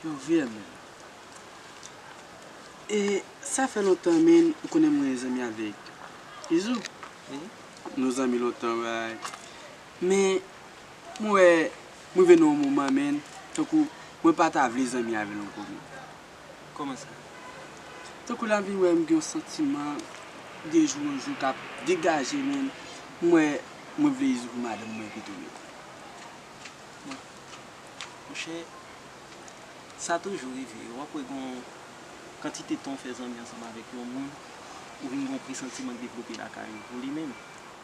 Yo vire menm. E sa fè lontan menn ou konnen mwen zanmi avèk Izou. Nou zanmi lontan vay. Men mwen wè m rive nan yon moman menn tankou mwen pa ta vle zanmi avè l ankò menn. Kòman sa? Tankou lavi wè m gen yon santiman de jou an jou k ap degaje men m wè mwen vle Izo pou madanm mwen pito rete. Bon, monchè, sa toujou rive. W ap wè gen yon kantite tan w fè zanmi ansanm avèk yon moun, ou vin gen yon presantiman k devlope lakay ou pou li menm.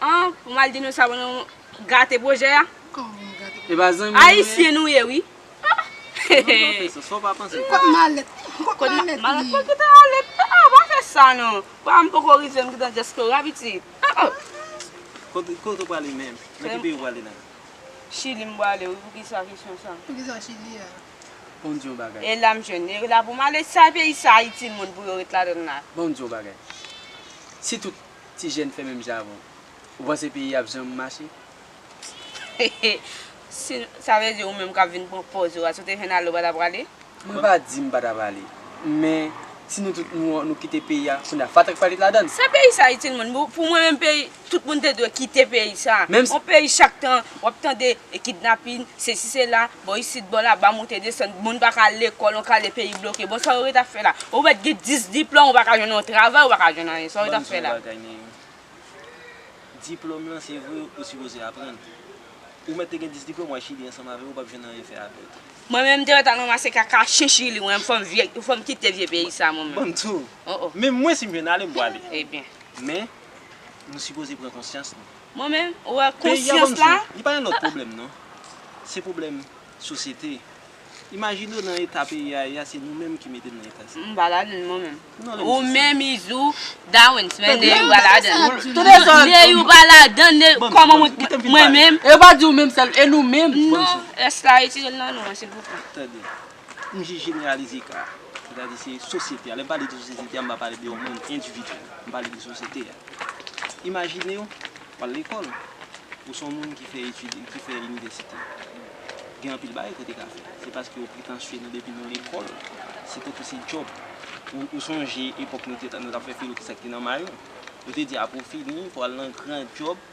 An ou mal di nou sa nou gate pwojè a ayisyen nou ye wi kot malèt mwen kitan ale pa fè sa non pa m poko rive m kitan dyaspowa pitit kote ou prale menm nan ki peyi ou prale la chili m prale wi poukisa kesyon sa poukisa chili a bon diyon bagay e la m jwenn e la pou m ale sa peyi sa ayiti moun pou yo ret ladann la bon diyon bagay si tout ti jèn fè menm jan avèw ou panse peyi a ap janm mache? Hehe sa vle di ou menm kap vin pran pòz ou a si ou te jèn ale ou pa ta prale? Mwen pa di m pa ta prale men si nou tout nou kite peyi a kounye a fatra k pral ladann. Sa peyi sa itil moun? Pou mwen menm peyi tout moun te dwe kite peyi sa. On peyi chak tan wap tande kidnapin sesi sela Bò isit bò la ba monte desann moun paka al lekòl yon kale peyi bloke bon sa yo ret ap fè la ou mèt gen 10 diplòm ou paka jwenn yon travay ou paka jwenn anyen sa yo ret ap fè la. Banm di w yon bagay Neyou diplòm lan se vre ou sipoze aprann ou mèt te gen 10 diplòm wal chili ansanm avèm ou pap jwenn anyen fè avèl. Mwen menm te mèt al ranmase kaka chen chili mwen menm fòm vye fòm kite vye peyi sa mwen menm. Banm di w menm mwen sim jwenn ale m pwale men nou sipoze pran konsyans nou. Mwen menm ou wè konsyans la. Li pa yon lòt pwoblèm non. Se pwoblèm sosyete. Imajine w nan eta peyi a ye a se nou menm ki mete l nan eta sa. M pa ladan l mwen menm. Ou menm Izou, Dawens men Neyou pa ladan l. Toude zòn. Neyou pa ladan l. Kòman mwen ki mwen menm. E yo pa di ou menm sèl e nou menm. Non, rès la retire l nan nou an silvouplè. Tande. M jis jeneralize ka a. Sètadi se sosyete a. Lè m pale de sosyete a, m pa pale de yon moun endividyèl. M pale de sosyete a. Imajine w w al lekòl. Ou se yon moun ki fè etid, ki fè inivèsite. Gen anpil bagay ke w te ka fè. Se paske ou pretansye nan depi nan lekòl, se tankou se djòb. Ou sonje epòk nou te, nou t ap fè filo ki sa ki te nan mayo. Ou te di apre w fini, pou w al nan gran djòb.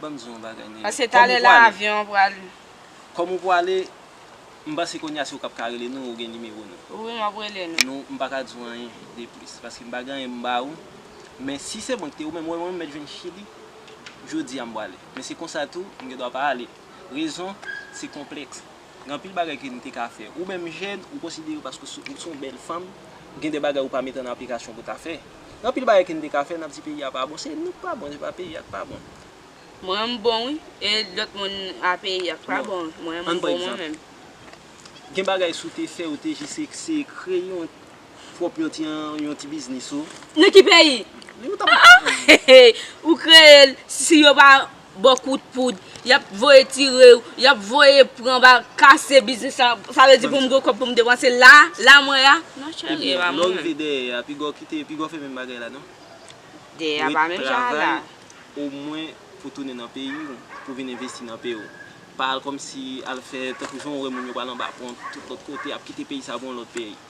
Banm di yon bagay nene. Paske talè la avyon an pral. Kòm ou pwale, m panse kounye a se ou kap ka rele nou, ou gen nimewo nou. Wi map rele nou. Nou, m pa ka di w anyen de plis, paske m pa gen anyen pou m ba ou, men si se mwen ki te ou menm, wè mwen m mèt jwenn chili, jodi a m pwale, men se konsa tou, m gen dwa pa ale, rezon, se konplèks. Gen anpil bagay ke nou te ka fè. Ou menm jèn, ou konsidere paske ou se yon bèl fanm, gen de bagay ou pa mete an aplikasyon pou w ta fè. Gen anpil bagay ke nou te ka fè, n ap di peyi a pa bon. Se nou k pa bon, se pa peyi a k pa bon. Mwen m bon wi, e lòt moun a peyi a k pa bon. Mwen m bon mwen menm. Gen bagay si w te fè, ou te jis se kreye yon Pwòp yon ti an yon ti biznis ou. Nan ki peyi? Li ou tap. Ah ah hehey ou kreye l si yo pa baw kout poud yap voye tire w yap voye pran bal kase biznis la sa vle di pou m gen kòb pou m depanse la la mwen ya non cheri e pa mwen menm. Ebyen lè w rive dèyè ya piga w kite piga w fè menm bagay la non. Dèyè ya pa menm jan la. Ou ret travay omwen pou tounen nan peyi w pou vin envesti nan peyi w pa al kòmsi al fè tankou jan w wè moun yo pral anba pon tout lòt kote ap kite peyi sa pou yon lòt peyi.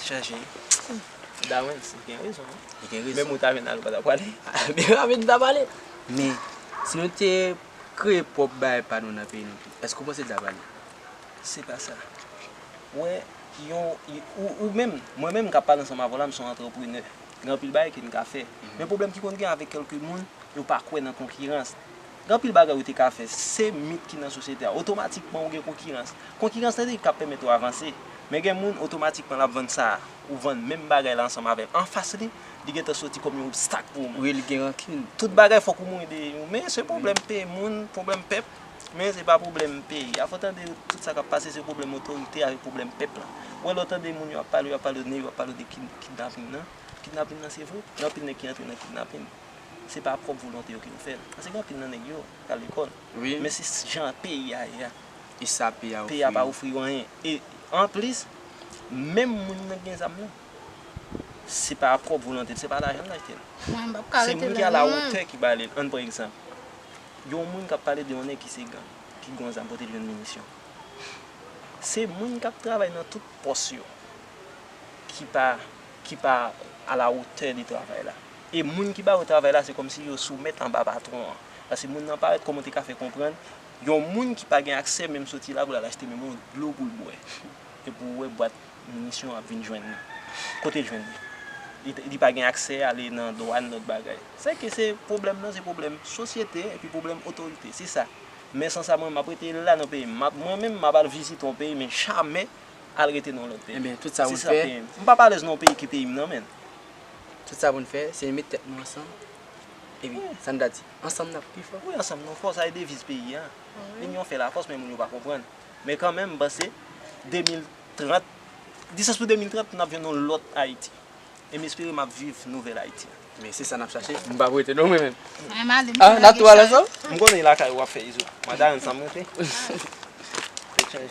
Chaje wi. Dawens gen rezon wi. Li gen rezon. Menm ou ta vin ale ou pa ta pwale. Menm avèk m ta pale. Men, si nou te kreye pwòp bagay pa nou nan peyi nou tou, èske ou panse li ta pale? Se pa sa. Ou wè, yon, ou menm, mwen menm m ka pale ansanm avè w la m son antreprenè. Gen anpil bagay ke n ka fè. Men pwoblèm ki konn gen avèk kèlke moun, yo pa kwè nan konkirans. Gen anpil bagay ou te ka fè. Se mit ki nan sosyete a. Otomatikman ou gen konkirans. Konkirans lan se li k ap pèmèt ou avanse. Men gen moun otomatikman l ap vann sa ou vann menm bagay la ansanm avè l anfas li, li gen tan soti kòm yon obstak pou ou menm. Wi li gen rankin. Tout bagay fòk ou mouri dèyè yo. Men se pwoblèm peyi moun, pwoblèm pèp. Men se pa pwoblèm peyi a. Fò w tande tout sa k ap pase se pwoblèm otorite avèk pwoblèm pèp la. Ou wè lè w tande moun yo ap pale yo ap pale yo ap pale de kidnapin nan. Kidnapin nan se vre. Gen anpil nèg ki antre nan kidnapin. se pa prop volonte yo ki yo fèl paske gen anpil nan nèg yo pral lekòl men se jan peyi a ye a peyi a pa ofri yo anyen e anplis menm moun nan gen zam nan se pa prop volonte l se pa lajan l achte l se moun ki a la wotè ki bale l ann pran egzanp yon moun kap pale de yon nèg ki se gang ki gon zam kote l jwenn minisyon se moun kap travay nan tout pòs yo ki pa ki pa a la wotè de travay la. E moun ki ba yo travay la se kòmsi yo soumèt anba patwon an. Paske moun nan parèt kòman w te ka fè konprann yon moun ki pa gen aksè menm soti la pou l al achte menm yon dlo pou l bwè. E pou ou wè bwat minisyon an ap vin jwenn li. Kote l jwenn li? Li pa gen aksè ale nan dwàn lòt bagay. Se ke se pwoblèm nan se pwoblèm sosyete epi pwoblèm otorite. Se sa. Men san sa mwen menm m ap rete la nan peyi m. M ap mwen menm m ap al vizite yon peyi men jamè al rete nan yon lòt peyi. Se sa peyi m. M pap alèz nan yon peyi ki peyi m nan men. Tout sa pou n fè, se met tèt nou ansanm, epi sa n ta di, ansanm n ap pi fò. Wi ansanm nou fò, sa e deviz peyi an. Linyon fè lafòs men moun yo pa konprann. Men kanmenm m panse 2030, di sas pou 2030 n ap jwenn yon lòt Ayiti. E m espere m ap viv nouvèl Ayiti an. Men se sa n ap chache, m pa pou rete non mwen menm. A, n ap tou ale ansanm? M konnen lakay ou w ap fè izo. M ap ale ansanm rete. Tèt chaje.